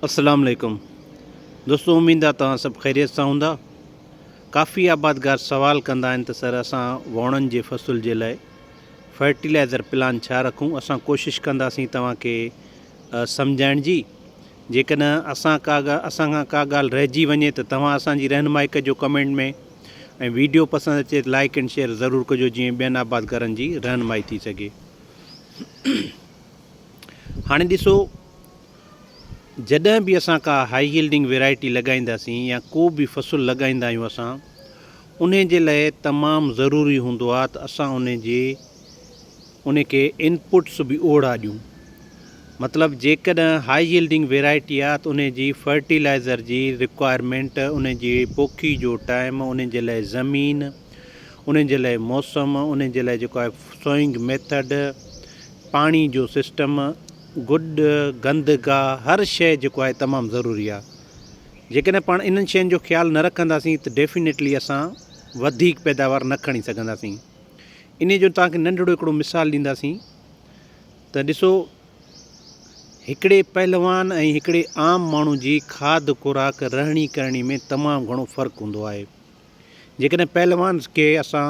اسلام عليڪم دوستو اميد آ توهان سڀ خيريت سان هوندا ڪافي آبادگار سوال ڪندا آهن ته سر اسان ووڻن جي فصل جي لاء فرٽيلائزر پلان ڇا رکون اسان ڪوشش ڪنداسين توهان کي سمجھائڻ جي جيڪڏهن اسان ڪا اسان کان ڪا ڳالهه رهجي وڃي ته توهان اسان جي رهنمائي ڪجو ڪمينٽ ۾ ۽ ويڊيو پسند اچي ته لائڪ اينڊ شيئر ضرور ڪجو جيئن ٻين آبادگارن جي رهنمائي ٿي سگھي هاڻي ڏسو جڏهن به اسان ڪا هائي هيلڊنگ ويرائٽي لڳائينداسين يا ڪو به فصل لڳائيندا آهيون اسان انهي جي لاء تمام ضروري هوندو آهي ته اسان انهي جي انهي کي ان پٽس به اوڙا ڏيون مطلب جيڪڏهن هائي هيلڊنگ ويرائٽي آهي ته انهي جي فرٽيلائزر جي رڪوائرمينٽ انهي جي پوکي جو ٽائيم انهي جي لاء زمين انهي جي لاء موسم انهي جي لاء جيڪو آهي سوئنگ ميٿڊ پاڻي جو سسٽم، گڊ، گند گاهه هر شيء جيڪو آهي تمام ضروري آهي. جيڪڏهن پاڻ انهن شين جو خيال نه رکنداسين ته ڊيفينيٽلي اسان وڌيڪ پيداوار نه کڻي سگهنداسين. انهيء جو توهان کي ننڍڙو هڪڙو مثال ڏينداسين ته ڏسو هڪڙي پهلوان ۽ هڪڙي عام ماڻهو جي کاڌ خوراڪ رهڻي ڪرڻي ۾ تمام گهڻو فرق هوندو آهي. جيڪڏهن پهلوان کي اسان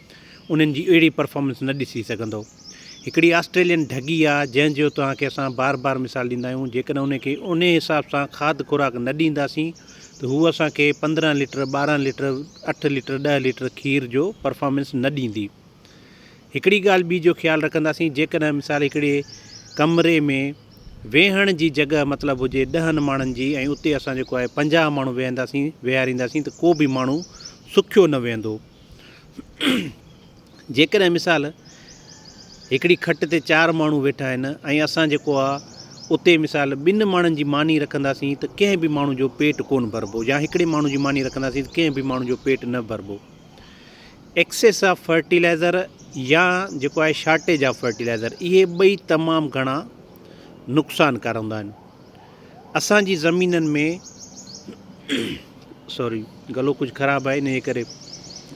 انهن جي اهڙي پرفارمنس نه ڏسي سگهندو. هڪڙي آسٽريلين ڍڳي آ جنهن جو توهان کي اسان بار بار مثال ڏيندا آهيون جيڪڏهن ان کي انهي حساب سان کاڌ خوراڪ نه ڏينداسين ته هوء اسان کي پندرهن ليٽر ٻارهن ليٽر اٺ ليٽر ڏهه ليٽر کير جو پرفارمنس نه ڏيندي هڪڙي ڳالهه ٻي جو خيال رکنداسين جيڪڏهن مثال هڪڙي ڪمري ۾ ويهڻ جي جڳهه مطلب هجي ڏهن ماڻهن جي ۽ اتي اسان جيڪو آهي پنجاهه ماڻهو ويهنداسين ويهارينداسين ته ڪو به ماڻهو سکيو نه ويهندو. جيڪڏهن مثال هڪڙي کٽ تي چار ماڻهو ويٺا آهن ۽ اسان جيڪو آ اتي مثال ٻن ماڻهن جي ماني رکنداسين ته ڪنهن به ماڻهو جو پيٽ ڪونه ڀربو يا هڪڙي ماڻهو جي ماني رکنداسين ته ڪنهن به ماڻهو جو پيٽ نه ڀربو ايڪسيس آف فرٽيلائزر يا جيڪو آهي شارٽيج آف فرٽيلائزر اهي ٻئي تمام گهڻا نقصان ڪار هوندا آهن اسان جي زمينن ۾ سوري گلو ڪجهه خراب آهي انهي ڪري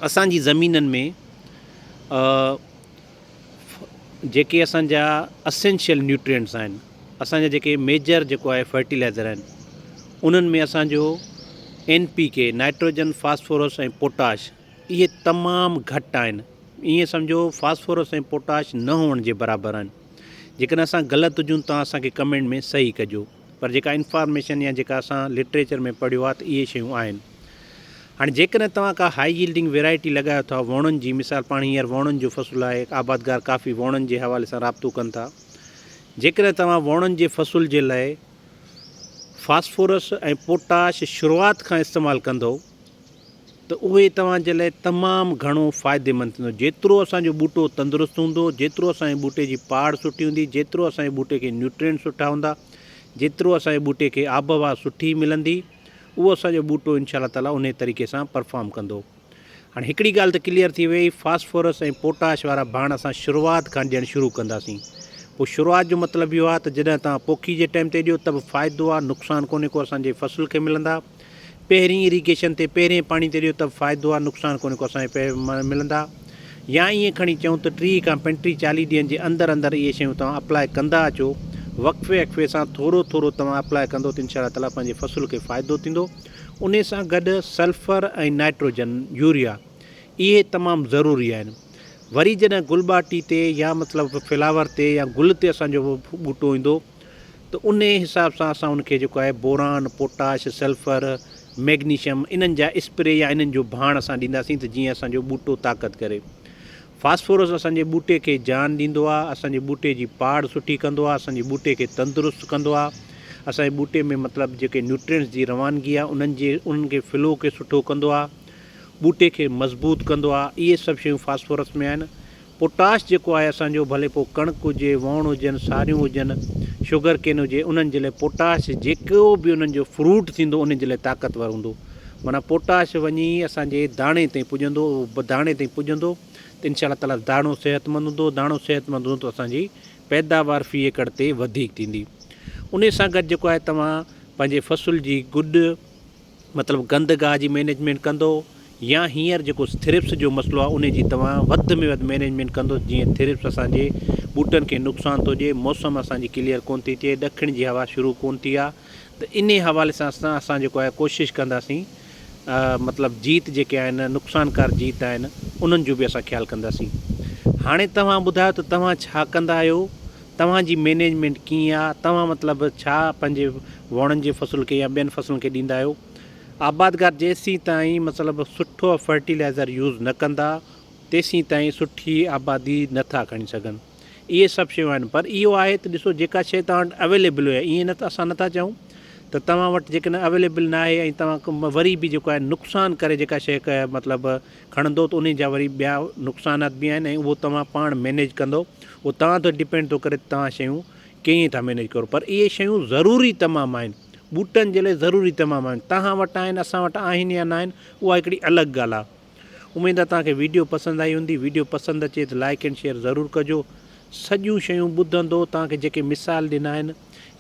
اسان جي زمينن ۾ جيڪي اسان جا اسينشل نيوٽرينٽس آهن اسان جا جيڪي ميجر جيڪو آهي فرٽيلائزر آهن انهن ۾ اسان جو N P K nitrogen phosphorus ۽ potash اهي تمام گهٽ آهن ائين سمجهو فاسفورس ۽ پوٽاش نه هئڻ جي برابر آهن جيڪڏهن اسان غلط هجون تان اسان کي ڪمينٽ ۾ صحيح ڪجو پر جيڪا انفارميشن يا جيڪا اسان لٽريچر ۾ پڙهيو آهي ته اهي شيون آهن هاڻي جيڪڏهن توهان ڪا هائي ييلڊنگ ويرائٽي لڳايو ٿا ووڻن جي مثال پاڻ هينئر ووڻن جو فصل آهي آبادگار ڪافي ووڻن جي حوالي سان رابطو ڪن ٿا جيڪڏهن توهان ووڻن جي فصل جي لاء فاسفورس ۽ پوٽاش شروعات کان استعمال ڪندو ته اهي توهان جي لاء تمام گهڻو فائديمند ٿيندو. جيترو اسان جو ٻوٽو تندرست هوندو، جيترو اسان جي ٻوٽي جي پاڙ سٺي هوندي، جيترو اسان جي ٻوٽي کي نيوٽرينٽ سٺا هوندا، جيترو اسان جي ٻوٽي کي آبهوا سٺي ملندي، اهو اسان جو ٻوٽو انشاء الله تعالٰي انهي طريقي سان پرفارم ڪندو. هاڻ هڪڙي ڳالهه ته ڪليئر ٿي ويئي، فاسفورس ۽ پوٽاش وارا ڀاڻ اسان شروعات کان ڏيڻ شروع ڪنداسين. پوء شروعات جو مطلب اهو آهي ته جڏهن توهان پوکي جي ٽائيم تي ڏيو ته به فائدو آهي، نقصان ڪونهي ڪو اسان جي فصل کي ملندا. پهرين اريگيشن تي پهرين پاڻي تي ڏيو ته به فائدو آ نقصان ڪونهي ڪو اسان کي پئي ملندا يا ائين کڻي چئون ته ٽيهه کان پنٽيهه چاليهه ڏينهن جي اندر اندر اهي شيون توهان اپلاء ڪندا اچو وقفي اقفي سان ٿورو ٿورو توهان اپلاء ڪندو ته انشاء الله تعاليٰ پنهنجي فصل کي فائدو ٿيندو انهي سان گڏ سلفر ۽ نائٽروجن يوريا اهي تمام ضروري آهن وري جڏهن گل ٻاٽي تي يا مطلب فلاور تي يا گل تي اسان جو ٻوٽو ايندو ته انهي حساب سان اسان ان کي جيڪو آهي بوران، پوٽاش، سلفر، ميگنيشم انهن جا اسپري يا انهن جو ڀاڻ اسان ڏينداسين ته جيئن اسان جو ٻوٽو طاقت ڪري. فاسفورس اسان جي ٻوٽي کي جان ڏيندو آهي، اسان جي ٻوٽي جي پاڙ سٺي ڪندو آهي، اسان جي ٻوٽي کي تندرست ڪندو آهي، اسان جي ٻوٽي ۾ مطلب جيڪي نيوٽرينٽس جي روانگي آهي انهن جي انهن کي فلو کي سٺو ڪندو آهي، ٻوٽي کي مضبوط ڪندو آهي اهي سڀ شيون فاسفورس ۾ آهن. پوٽاش جيڪو آهي اسان جو ڀلي پوء ڪڻڪ هجي، وؤڻ هجن، ساريون هجن، شگر ڪين هجي انهن جي لاء پوٽاش جيڪو به انهن جو فروٽ ٿيندو انهن جي لاء طاقتور هوندو. معنيٰ پوٽاش وڃي اسان جي داڻي تائين پڄندو اهو داڻي تائين پڄندو ته انشاء الله تعالٰي داڻو صحتمند هوندو، داڻو صحتمند هوندو ته اسان جي پيداوار في ايڪڙ تي وڌيڪ ٿيندي. انهي سان گڏ جيڪو آهي توهان پنهنجي فصل جي گڏ مطلب گند گاهه جي مينيجمينٽ ڪندو يا هينئر جيڪو ٿرپس جو مسئلو آهي انهي جي توهان وڌ ۾ وڌ مينيجمينٽ ڪندو جيئن ٿرپس اسان جي ٻوٽن کي نقصان ٿو ڏئي موسم اسان جي ڪليئر ڪون ٿي ٿئي ڏکڻ جي هوا شروع ڪون ٿي آهي ته انهي حوالي سان اسان اسان جيڪو آهي ڪوشش ڪنداسين مطلب جيت جيڪي آهن نقصانڪار جيت آهن انهن جو به اسان خيال ڪنداسين هاڻي توهان ٻڌايو ته توهان ڇا ڪندا آهيو توهان جي مينيجمينٽ ڪيئن آ؟ توهان مطلب ڇا پنهنجي وڻن جي فصل کي يا ٻين فصلن کي ڏيندا آهيو؟ آبادگار جيسين تائين مطلب سٺو فرٽيلائزر يوز نه ڪندا تيسين تائين سٺي آبادي نه ٿا کڻي سگهن. اهي سڀ شيون آهن پر اهو آهي ته ڏسو جيڪا شيء توهان وٽ اويليبل هئي ائين نه ته اسان نه ٿا چاهون ته توهان وٽ جيڪڏهن اويليبل ناهي ۽ توهان وري به جيڪو آهي نقصان ڪري جيڪا شيء مطلب کڻندو ته انهي جا وري ٻيا نقصانات به آهن ۽ اهو توهان پاڻ مينيج ڪندو اهو توهان تي ڊپينڊ ٿو ڪري ته توهان شيون ڪيئن ٿا مينيج ڪرو پر اهي شيون ضروري تمام آهن ٻوٽن جي لاء ضروري تمام آهن توهان وٽ آهن اسان وٽ آهن يا ناهن اها هڪڙي الڳ ڳالهه آهي اميد آهي توهان کي ويڊيو پسند آئي هوندي ويڊيو پسند اچي ته لائڪ اينڊ شيئر ضرور ڪجو سڄيون شيون ٻڌندو توهان کي جيڪي مثال ڏنا آهن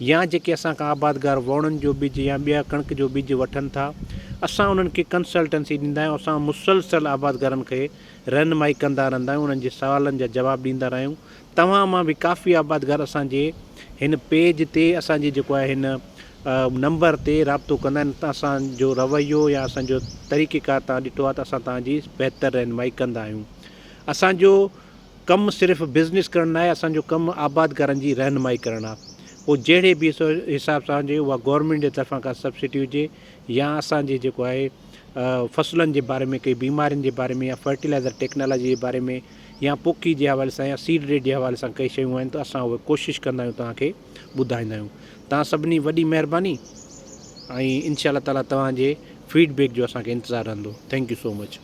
يا جيڪي اسان کان آبادگار ووڻن جو ٻج يا ٻيا ڪڻڪ جو ٻج وٺن ٿا اسان انهن کي ڪنسلٽنسي ڏيندا آهيون اسان مسلسل آبادگارن کي رهنمائي ڪندا رهندا آهيون انهن جي سوالن جا جواب ڏيندا رهيون توهان مان به ڪافي آبادگار اسان جي هن پيج تي اسان جي جيڪو آهي هن نمبر تي رابطو ڪندا آهن ته اسان جو رويو يا اسان جو طريقي ڪار تان ڏٺو آهي ته اسان تان جي بهتر رهنمائي ڪندا آهيون اسان جو ڪم صرف بزنس ڪرڻ ناهي اسان جو ڪم آبادگارن جي رهنمائي ڪرڻ آ پوء جهڙي به حساب سان هجي اها گورنمينٽ جي طرفان ڪا سبسڊي هجي يا اسان جي جيڪو آهي فصلن جي باري ۾ ڪئي بيمارين جي باري ۾ يا فرٽيلائزر ٽيڪنالاجي جي باري ۾ يا پوکي جي حوالي سان يا سيڊ ريٽ جي حوالي سان ڪئي شيون آهن ته اسان اهي ڪوشش ڪندا آهيون توهان کي ٻڌائيندا آهيون توهان سڀني وڏي مهرباني ۽ انشاء الله تعاليٰ توهان جي فيڊ بيڪ جو اسان کي انتظار رهندو ٿينڪ يو سو مچ